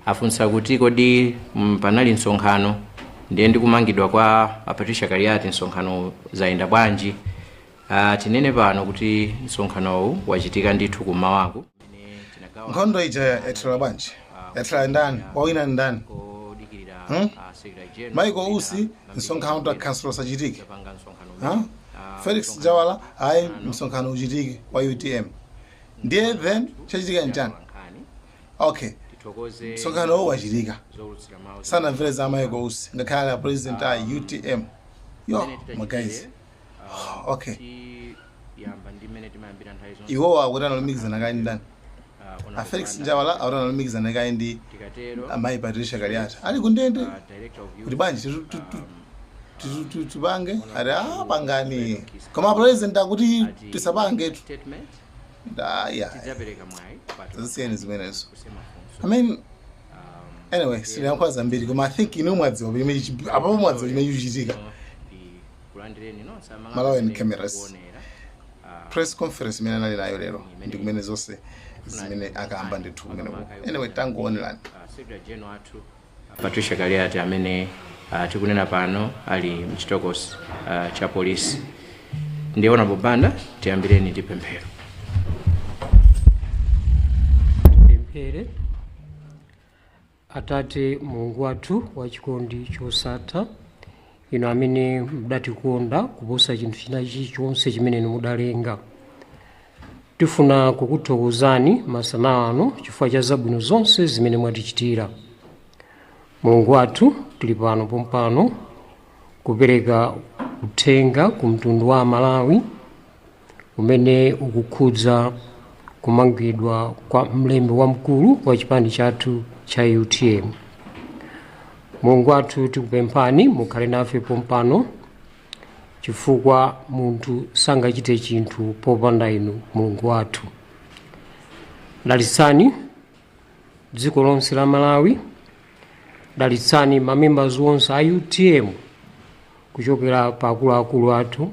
afunsa kuti kodi mm, panali msonkhano ndiye ndi kumangidwa kwa a patricia kaliati msonkhano zayenda bwanji uh, tinene pano kuti msonkhanowu wachitika ndithu kumawaku nkhondo ija yathera bwanji yathera ndani wawina ndani Hmm? Michael Usi msonkhano wa council usachitike Huh? felix njawala ayi msonkhano uchitike wa utm ndiye then chachitika nchani okay tithokoze msonkhano uwu wachitika zowulutsira mawu sanamvere za Michael Usi ngakhale ali a president a utm yo Mmene titachitire, magayizi ah, okay tiyamba ndi mmene timayambira nthawi zonse iwowo akuti analumikizana kaye ndi ndani Ah, ona a felix kupanda. njawala akuti analumikizana kaye ndi tikatero amayi patricia kaliati ali kundende ah, director of youth, kuti bwanji titu- titu- um, titu- titu- tipange ati a pangani koma president akuti tisapange tu statement ndaya tidzapereka mwayi kwa zisiyeni zimenezo kusemafunso i mean anyway sinayankha zambiri koma i think inu mwadziwa pamene chichi- apapo mwadziwa chimene chikuchitika kulandireni nonse amalawi Malawi and cameras. kuonera press conference imene anali nayo lero ndi kumene zonse zimene akamba ndithu kumeneko anyway tangoonelani secretary general athu A Patricia Kaliati amene uh, tikunena pano ali mchitokosi uh, cha polisi ndi Honorable Banda, tiyambireni ndi pemphero. Tipemphere. Atate Mulungu wathu wachikondi chosatha inu amene mudatikonda kuposa chinthu china chilichonse chimene inu mudalenga tifuna kukuthokozani masana ano chifukwa cha zabwino zonse zimene mwatichitira mulungu wathu tili pano pompano kupereka uthenga ku mtundu wa amalawi womwe ukukhudza kumangidwa kwa mlembi wamkulu wa chipani chathu cha utm mulungu wathu tikupemphani mukhale nafe pompano chifukwa munthu sangachite chinthu popanda inu mulungu wathu dalitsani dziko lonse la malawi dalitsani mamembers onse a utm kuchokera pa akuluakulu athu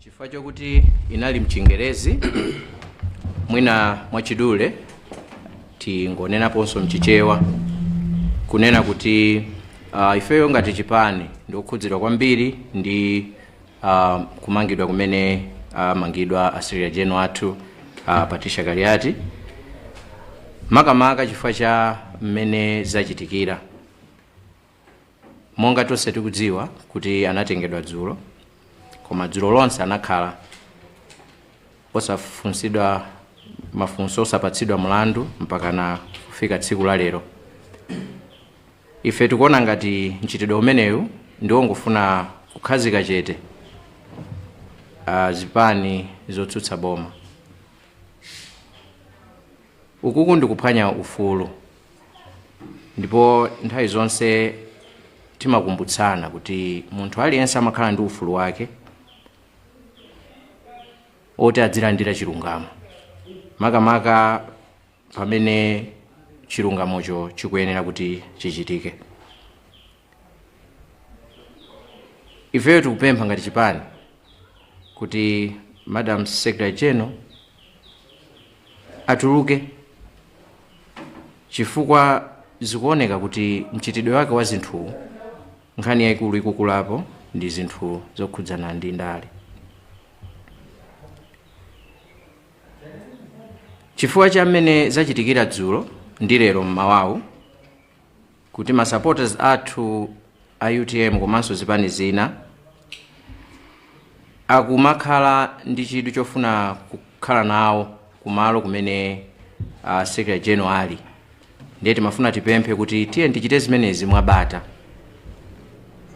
chifukwa chokuti inali mchingerezi mwina mwachidule tingonenaponso mchichewa kunena kuti uh, ifeyo ngati chipani ndikukhudzidwa kwambiri ndi uh, kumangidwa kumene amangidwa uh, a secretary general athu a patricia kaliati makamaka chifukwa cha mmene zachitikira Monga tonse tikudziwa kuti anatengedwa dzulo, koma dzulo lonse anakhala osafunsidwa mafunso, osapatsidwa mlandu mpakana kufika tsiku la lero. Ife tikuona ngati mchitidwe umenewu ndiwo ongofuna kukhalitsa chete ah, zipani zotsutsa boma. Ukuku ndi kuphwanya ufulu ndipo nthawi zonse timakumbutsana kuti munthu aliyense amakhala ndi ufulu wake oti adzilandira chilungamo makamaka pamene chilungamocho chikuyenera kuti chichitike. Ifeyo tikupempha ngati chipani kuti Madam Secretary General atuluke chifukwa zikuoneka kuti mchitidwe wake wa zinthuwu nkhani yayikulu ikukulapo ndi zinthu zokhudzana ndi ndale chifukwa cha mmene zachitikira dzulo ndi lero mmawawu kuti ma supporters athu a utm komanso zipani zina akumakhala ndi chidwi chofuna kukhala nawo kumalo kumene uh, secretary general ali ndiye timafuna tipemphe kuti tiyeni tichite zimenezi mwabata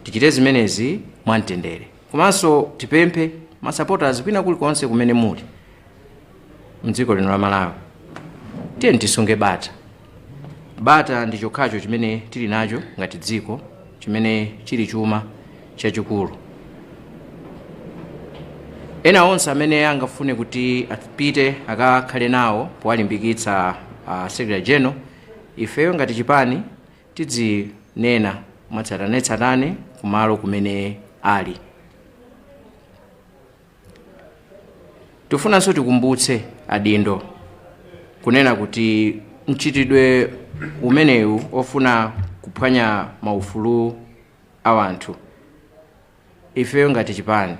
tichite zimenezi mwamtendere komanso tipemphe ma supporters kwina kulikonse kumene muli mdziko lino la malawi tiyeni tisunge bata bata ndi chokhacho chimene tili nacho ngati dziko chimene chili chuma chachikulu ena onse amene angafune kuti apite akakhale nawo powalimbikitsa uh, secretary general ifeyo ngati chipani tidzinena mwatsatanetsatane kumalo kumene ali Tifunanso tikumbutse adindo kunena kuti mchitidwe umenewu ofuna kuphwanya maufulu a wanthu ifeyo ngati chipani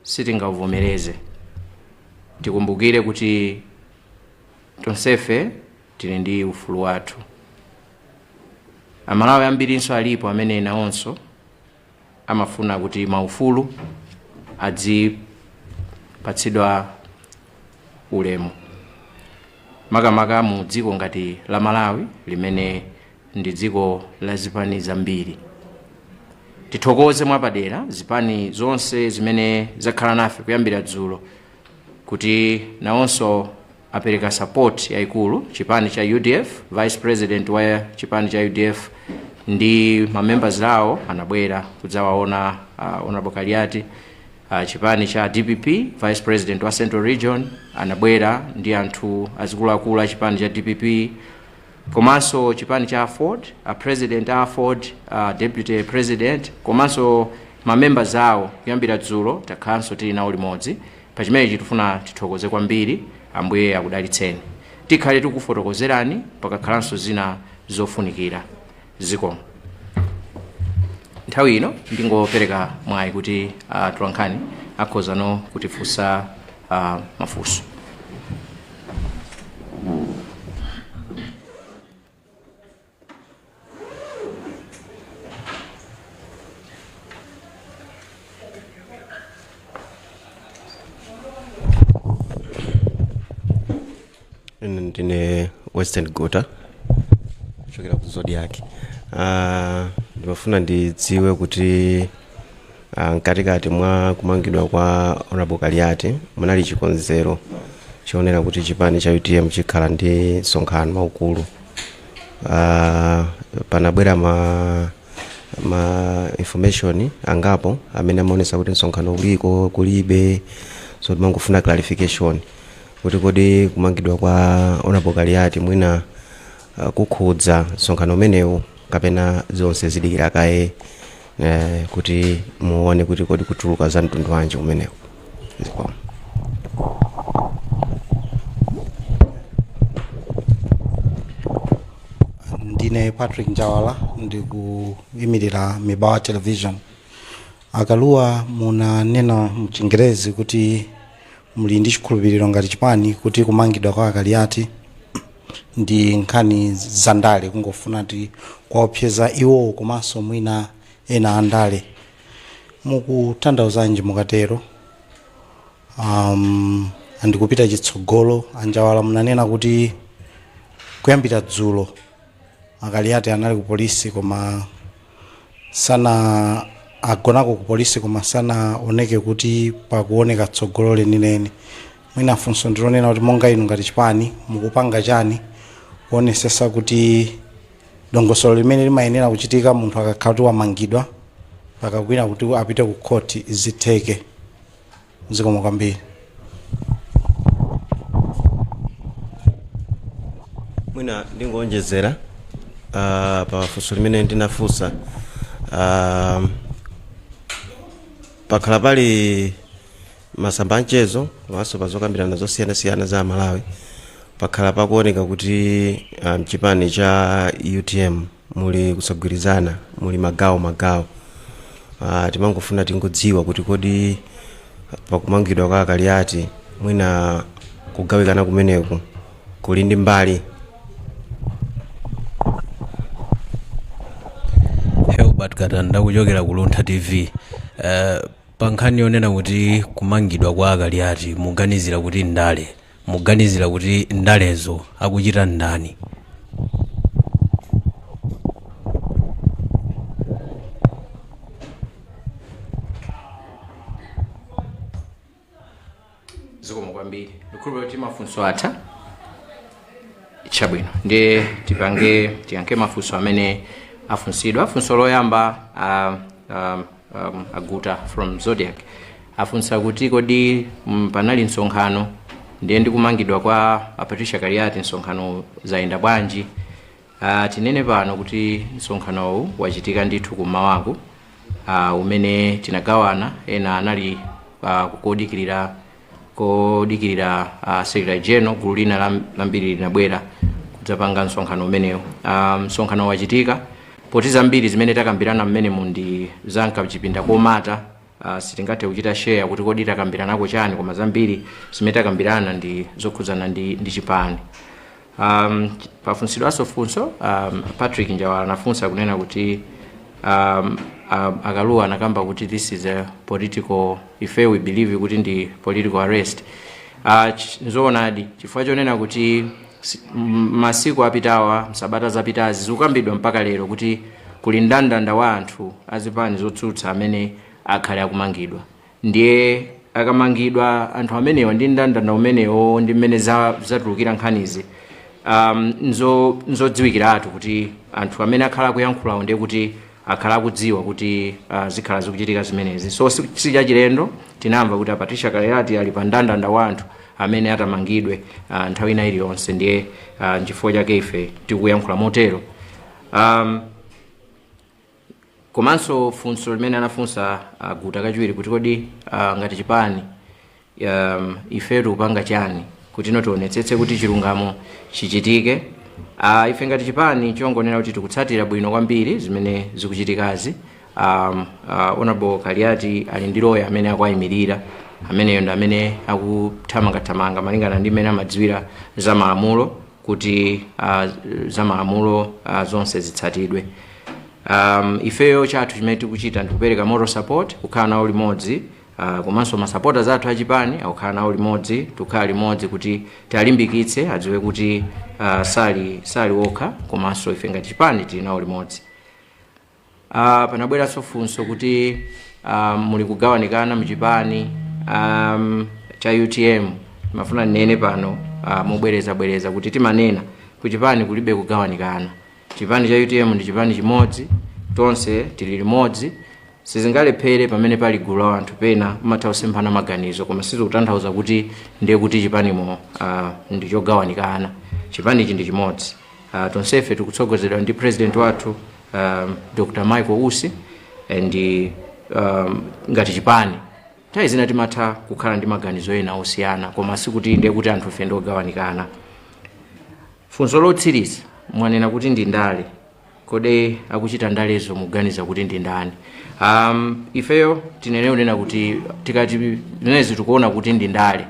sitingauvomereze. Tikumbukire kuti tonsefe tili ndi ufulu wathu. Amalawi ambirinso alipo amene nawonso amafuna kuti maufulu adzipatsidwa ulemu makamaka mu dziko ngati la malawi limene ndi dziko la zipani zambiri tithokoze mwapadera zipani zonse zimene zakhala nafe kuyambira dzulo kuti nawonso apereka support yaikulu chipani cha udf vice president wa chipani cha udf ndi mamembers awo anabwera kudzawaona uh, honorable kaliati uh, chipani cha dpp vice president wa central region anabwera ndi anthu azikuluakulu a chipani cha dpp komanso chipani cha aford a president a aford a deputy president komanso mamembers awo kuyambira dzulo takhalanso tili nawo limodzi Pa chimenechi tifuna tithokoze kwambiri Ambuye akudalitseni. Tikhale tikufotokozerani pakakhalanso zina zofunikira. Zikomo. Nthawi ino ndingopereka mwayi kuti uh, atolankhani akhozano kutifunsa uh, mafunso. ndine western guta kuchokera ku zodiac uh, ndimafuna ndidziwe kuti Ah, mkatikati mwa kumangidwa kwa honorable kaliati munali chikonzero chionera kuti chipani cha utm chikhala ndi msonkhano waukulu Ah, panabwera ma ma information angapo amene amaonesa kuti msonkhano uliko kulibe so ndimangofuna clarification kuti kodi kumangidwa kwa honorable kaliati mwina ah, kukhudza msonkhano umenewu kapena zonse zidikira kaye eh, kuti muone kuti kodi kutuluka za mtundu wanji kumeneko zikomo ndine patrick njawala ndikuyimirira mibawa television akaluwa munanena mchingerezi kuti muli ndi chikhulupiriro ngati chipani kuti kumangidwa kwa akaliati ndi nkhani za ndale kungofuna kuti kuwaopseza iwowo komanso mwina ena a ndale mukutanthauzanji mukatero um, and kupita chitsogolo anjawala munanena kuti kuyambira dzulo akaliati anali ku polisi koma sana agonako ku polisi koma sanaoneke kuti pakuoneka tsogolo lenileni Mwina funso ndilonena kuti monga inu ngati chipani mukupanga chani kuonesesa kuti dongosolo limene limayenera kuchitika munthu akakhala kuti wamangidwa mpaka kwina kuti apite ku court zitheke. Zikomo kwambiri. mwina ndingoonjezera uh, pa funso limene ndinafunsa uh, pakhala pali M'masamba a nchezo komanso pa zokambirana zosiyanasiyana za Amalawi pakhala pakuoneka kuti mchipani cha utm muli kusagwirizana, muli magawo magawo. Timangofuna tingodziwa kuti kodi pakumangidwa kwa a Kaliati mwina kugawikana kumeneku kuli ndi mbali? Herbert Katanda kuchokera ku Luntha TV. Eh, Pa nkhani yonena kuti kumangidwa kwa a Kaliati muganizira kuti ndale, muganizira kuti ndalezo akuchita ndani? zikomo kwambiri ndikhulupira kuti mafunso atha chabwino ndiye tipange tiyankhe mafunso amene afunsidwa funso loyamba uh, um, um, a guta from zodiak afunsa kuti kodi mm, panali msonkhano ndiye ndikumangidwa kwa a patricia kaliati msonkhano zayenda bwanji Aaa tinene pano kuti msonkhanowu wachitika ndithu kummawaku aaa umene tinagawana ena anali aaa kodikilira kodikilira aaa secretary general gulu lina lam- lambiri linabwera kudzapanga msonkhano umenewu aaa msonkhano wachitika poti zambiri zimene takambirana mmenemu ndi za mkachipinda komata Uh, sitingathe kuchita share kuti kodi takambiranako chani koma zambiri zimene takambirana ndi zokhudzana ndi, ndi chipani um, pafunsidwanso funso um, patrick njawala anafunsa kunena kuti um, um, a kalua anakamba kuti this is a political ife we believe kuti ndi political arrest uh, ch- nzoonadi chifukwa chonena kuti Si- m- masiku apitawa msabata zapitazi zikukambidwa mpaka lero kuti kuli ndandanda wa anthu azipani zotsutsa amene akhale akumangidwa ndiye akamangidwa anthu amenewa ndi ndandanda umenewo ndi mmene za- zatulukira nkhanizi um, nzo- nzodziwikiratu kuti anthu amene akhala akuyankhulawo ndiye kuti akhala akudziwa kuti uh, zikhala zikuchitika zimenezi so si si chachilendo tinamva kuti a patricia kaliati ali pa ndandanda wa anthu amene atamangidwe uh, nthawi ina iliyonse ndiye uh, nchifukwa chake ife tikuyankhula motero um, komanso funso limene anafunsa uh, guta kachiwiri kuti kodi uh, ngati chipani um, ifeyo tikupanga chani kutino tionetsetse kuti chilungamo chichitike uh, ife ngati chipani chongonena kuti tikutsatira bwino kwambiri zimene zikuchitikazi um, uh, honorable kaliati ali ndi loya amene akuayimirira ameneyo ndi amene akuthamangathamanga malingana ndi mmene amadziwira za malamulo kuti uh, za malamulo uh, zonse zitsatidwe um, ifeyo chathu chimene tikuchita ndikupereka moral support kukhala nawo limodzi Uh, komanso masapota zathu achipani akukhala nawo limodzi tukhala limodzi kuti tialimbikitse adziwe kuti uh, sali sali okha komanso ife ngati chipani tili nawo limodzi uh, panabweranso funso kuti uh, muli kugawanikana mchipani um, cha utm ndimafuna ndinene pano uh, mobwerezabwereza kuti timanena kuchipani kulibe kugawanikana chipani cha utm ndi chipani chimodzi tonse tili limodzi sizingalephere pamene pali gulu la anthu pena mumatha kusemphana maganizo koma sizikutanthauza kuti ndiye kuti chipanimo uh, ndi chogawanikana chipanichi ndi chimodzi uh, tonsefe tikutsogozedwa ndi president wathu um, dr michael usi and um, ngati chipani nthawi zina timatha kukhala ndi maganizo ena osiyana koma sikuti ndiye kuti anthufe ndi ogawanikana funso lotsiriza mwanena kuti ndi ndale kodi akuchita ndalezo muganiza kuti ndi ndani um, ifeyo tinene kunena kuti tikati zimenezi tikuona kuti ndi ndale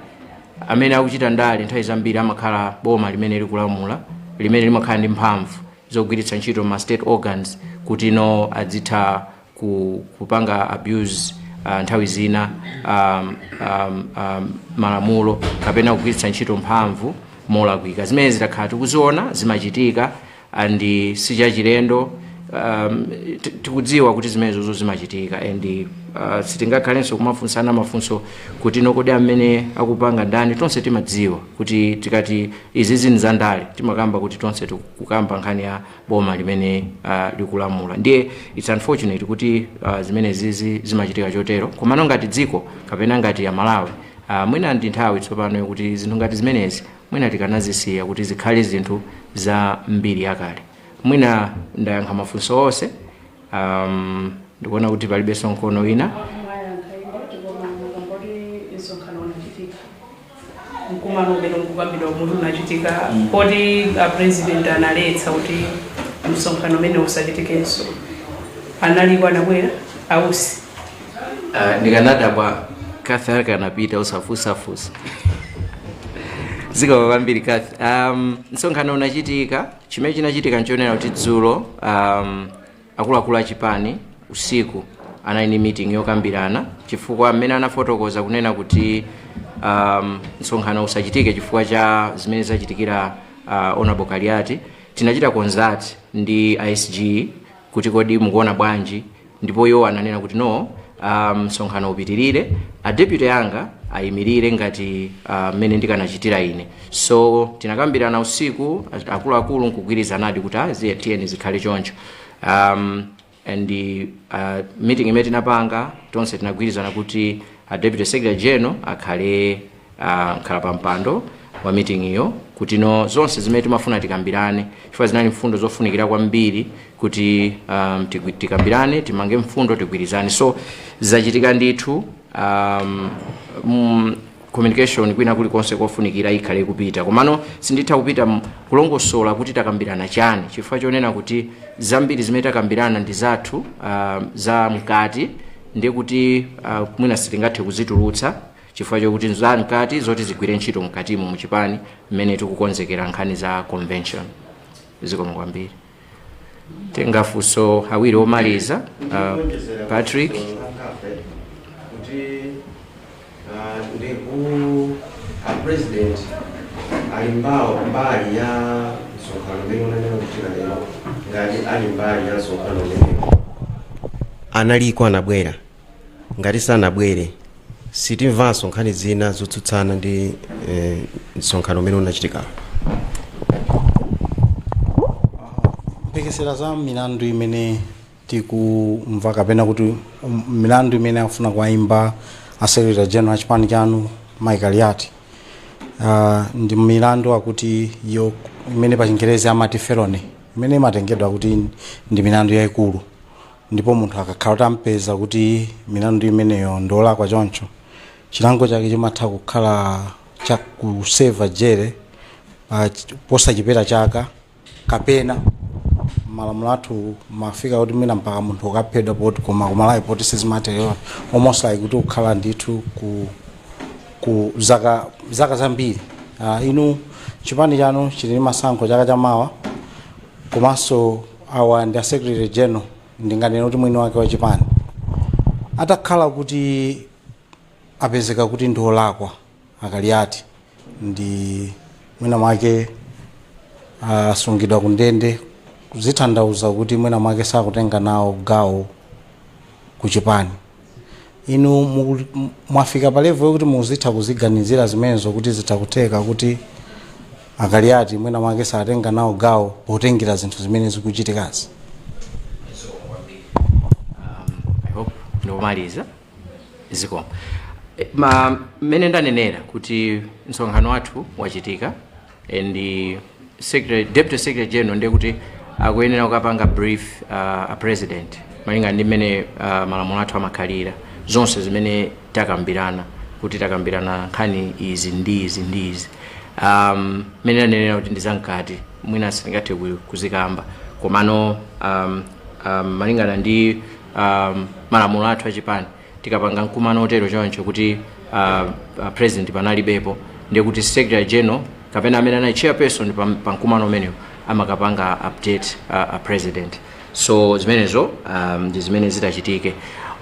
amene akuchita ndale nthawi zambiri amakhala boma limene likulamula limene limakhala ndi mphamvu zogwiritsa ntchito ma state organs kuti no adzitha ku, kupanga abuse uh, nthawi zina um, um, um, malamulo kapena kugwiritsa ntchito mphamvu molakwika zimene zitakhala tikuziona zimachitika and sichachilendo um, ti- tikudziwa kuti zimenezozo zimachitika and uh, sitingakhalenso kumafunsana mafunso kuti no kodi amene akupanga ndani tonse timadziwa kuti tikati izizi ndi zandale timakamba kuti tonse tikukamba nkhani ya boma limene uh, likulamula ndiye its unfortunate kuti uh, zimenezizi zimachitika chotero komano ngati dziko kapena ngati amalawi uh, mwina ndi nthawi tsopano yokuti zinthu ngati zimenezi mwina tikanazisiya kuti zikhale zinthu za mbiri yakale mwina ndayankha mafunso onse Um, ndikuona kuti palibenso mkono wina mwayankha ino koma mukangoti msonkhano unachitika mkumano umene ukukambidwawu muti unachitika poti apresident analetsa kuti msonkhano umene usachitikenso analiko anabwera ausi uh, ndikanadabwa kathi akanapita usafusafusa zikomo kwambiri kathi um, msonkhano unachitika chimene chinachitika n'chonena kuti dzulo um, akuluakulu a chipani usiku anali ndi meeting yokambirana chifukwa mmene anafotokoza kunena kuti um, msonkhano usachitike chifukwa cha zimene zachitikira uh, honorable kaliati tinachita consult ndi a sg kuti kodi mukuona bwanji ndipo iwo ananena kuti no ah, msonkhano upitirire a deputy anga ayimirire ngati ah, mmene ndikanachitira ine so tinakambirana usiku a- akuluakulu nkugwirizanadi kuti ah, ziye tiyeni zikhale choncho um, and uh, meeting imene tinapanga tonse tinagwirizana kuti a deputy secretary general akhale uh, mkhalapampando wa miting'iyo kuti no zonse zimene timafuna tikambirane chifukwa zinali mfundo zofunikira kwambiri kuti um, tigwi- tikambirane timange mfundo tigwirizane so zachitika ndithu um, mm, communication kwina kulikonse kofunikira ikhale kupita komano sinditha kupita m- kulongosola kuti takambirana chani chifukwa chonena kuti zambiri zimene takambirana ndi zathu uh, za mkati ndiye kuti uh, mwina sitingathe kuzitulutsa chifukwa chokuti nza mkati zoti zigwire ntchito mkatimu muchipani mmene tikukonzekera nkhani za convention zikomo kwambiri titenge mafunso awiri omaliza uh, patrick kuti ah, ndi ku a president ali mbali ya msonkhano umene unayenera kuchitika lero ngati ali mbali ya msonkhano umenewo analiko anabwera ngati sanabwere sitimvanso nkhani zina zotsutsana ndi eh, msonkhano umene unachitikawo mphekesera za milandu imene tikumva kapena kuti um, milandu imene akufuna kuwaimba a secretary general chipani chanu mai kaliati uh, ndi milandu akuti iyo imene pa chingerezi amati felony imene imatengedwa kuti ndi milandu yayikulu ndipo munthu akakhala kuti ampeza kuti milandu imeneyo ndiolakwa choncho chilango chake chimatha kukhala cha kuseva jere pa ch- posachepera chaka kapena malamulo athu amafika kuti mwina mpaka munthu kukaphedwa poti koma kumalawi poti sizimatero almost like kuti ukhala ndithu ku ku zaka zaka zambiri uh, inu chipani chanu chili ndi masankho chaka chamawa komanso awa ndi a secretary general ndinganene kuti mwini wake wa chipani atakhala kuti apezeka kuti ndi olakwa a kaliati ndi mwina mwake asungidwa ku ndende zikutanthauza kuti mwina mwake sakutenga nawo gawo ku chipani inu muku- m- mwafika pa level yokuti muzitha kuziganizira zimenezo kuti zitha kutheka kuti a kaliati mwina mwake satenga nawo gawo potengera zinthu zimene zikuchitikazi I hope ndikumaliza zikomo Eh, ma mmene ndanenera kuti msonkhano wathu wachitika and se- deputy secretary general ndiye kuti akuyenera kukapanga brief uh, a president malingana ndi mmene uh, malamulo athu amakhalira zonse zimene takambirana kuti takambirana nkhani izi ndi izi ndi izi um, mmene ndanenera kuti ndizamkati mwina sindingathe ku- kuzikamba komano um, um, malingana ndi um, malamulo athu achipani tikapanga mkumano otero choncho kuti uh, a president panalibepo ndiye kuti secretary general kapena amene anali chairperson pa, pa mkumano umenewo amakapanga update uh, a president so zimenezo um, ndi zimene zitachitike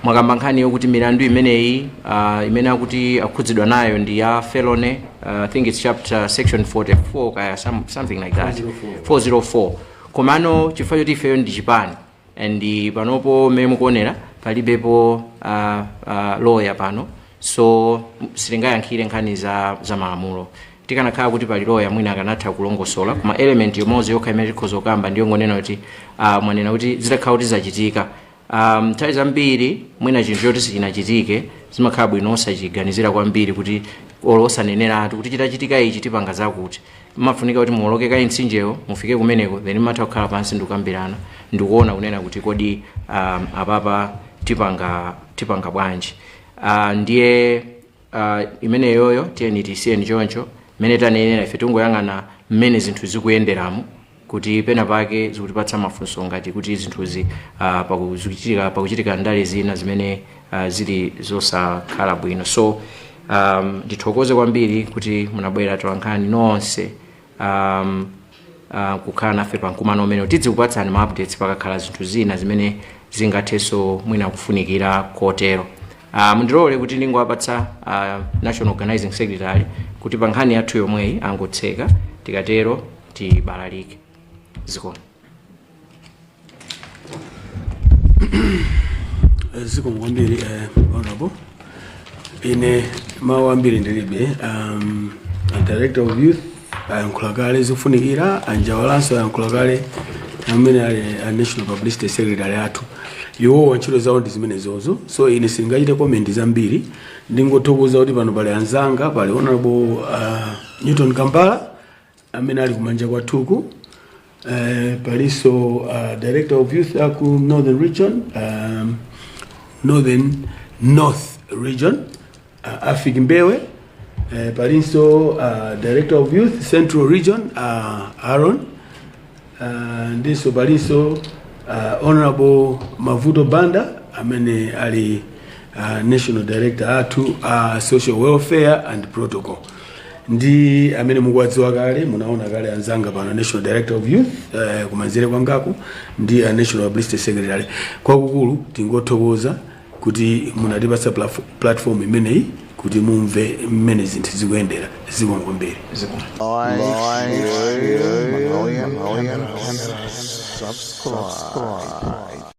mwakamba nkhani yokuti milandu imeneyi uh, imene akuti akhudzidwa nayo ndi ya felony uh, i think it's chapter section 44 kaya some, something like that 404 komano chifukwa choti ifeyo ndi chipani and panopo mmene mukuonera palibepo uh, uh, loya pano so sitingayankhire nkhani za, za malamulo tikanakhala kuti pali loya mwina akanatha kulongosola koma element imodzi yokha imene tikhoza kukamba ndiyo ngonena kuti uh, mwanena kuti zitakhala kuti zachitika um, nthawi zambiri mwina chinthu choti sichinachitike zimakhala bwino osachiganizira kwambiri kuti olo osaneneratu kuti chitachitika ichi tipanga zakuti Pamafunika kuti muwoloke kaye mtsinjewo mufike kumeneko then mumatha kukhala pansi ndikukambirana ndikuona kunena kuti kodi um, apapa tipanga tipanga bwanji uh, ndiye uh, imeneyoyo tiyeni tiisiyeni choncho mmene tanenera ife tingoyang'ana mmene zinthu zikuyenderamo kuti pena pake zikutipatsa mafunso ngati kuti zinthuzi ah, pakuchitika pakuchitika ndale zina zimene ah, zili zosakhala bwino so um, ndithokoze kwambiri kuti munabwera tolankhani nonse um, uh, kukhala nafe pa mkumano umenewu tidzikupatsani ma updates pakakhala zinthu zina zimene zingathenso mwina kufunikira kotero uh, mundilole kuti ndingowapatsa uh, national organizing secretary kuti pa nkhani yathu yomweyi angotseka tikatero tibalalike zikomo zikomo kwambiri eh, honorable ine mawu ambiri ndilibe um, a director of youth ayankhula kale zofunikira a Njawala nawonso ayankhula kale amene ali a national publicity secretary athu iwowa ntchito zawo ndi zimenezozo so ine sindingachite komenti zambiri ndingothokoza kuti pano pali anzanga pali honorable uh, newton kambala amene ali kumanja kwathuku eh, palinso uh, director of youth aku northern region um, northern north region uh, afik mbewe eh, palinso uh, director of youth central region uh, aaron Uh, ndinso palinso uh, honorable mavuto banda amene ali a national director athu a uh, social welfare and protocol ndi amene mukuwadziwa kale munaona kale anzanga pano a national director of youth uh, kumanzere kwangaku ndi a national publicity secretary kwakukulu tingothokoza kuti munatipatsa platform imeneyi kuti mumve mmene zinthu zikuyendera zikomo kwambiri Like, share, and subscribe.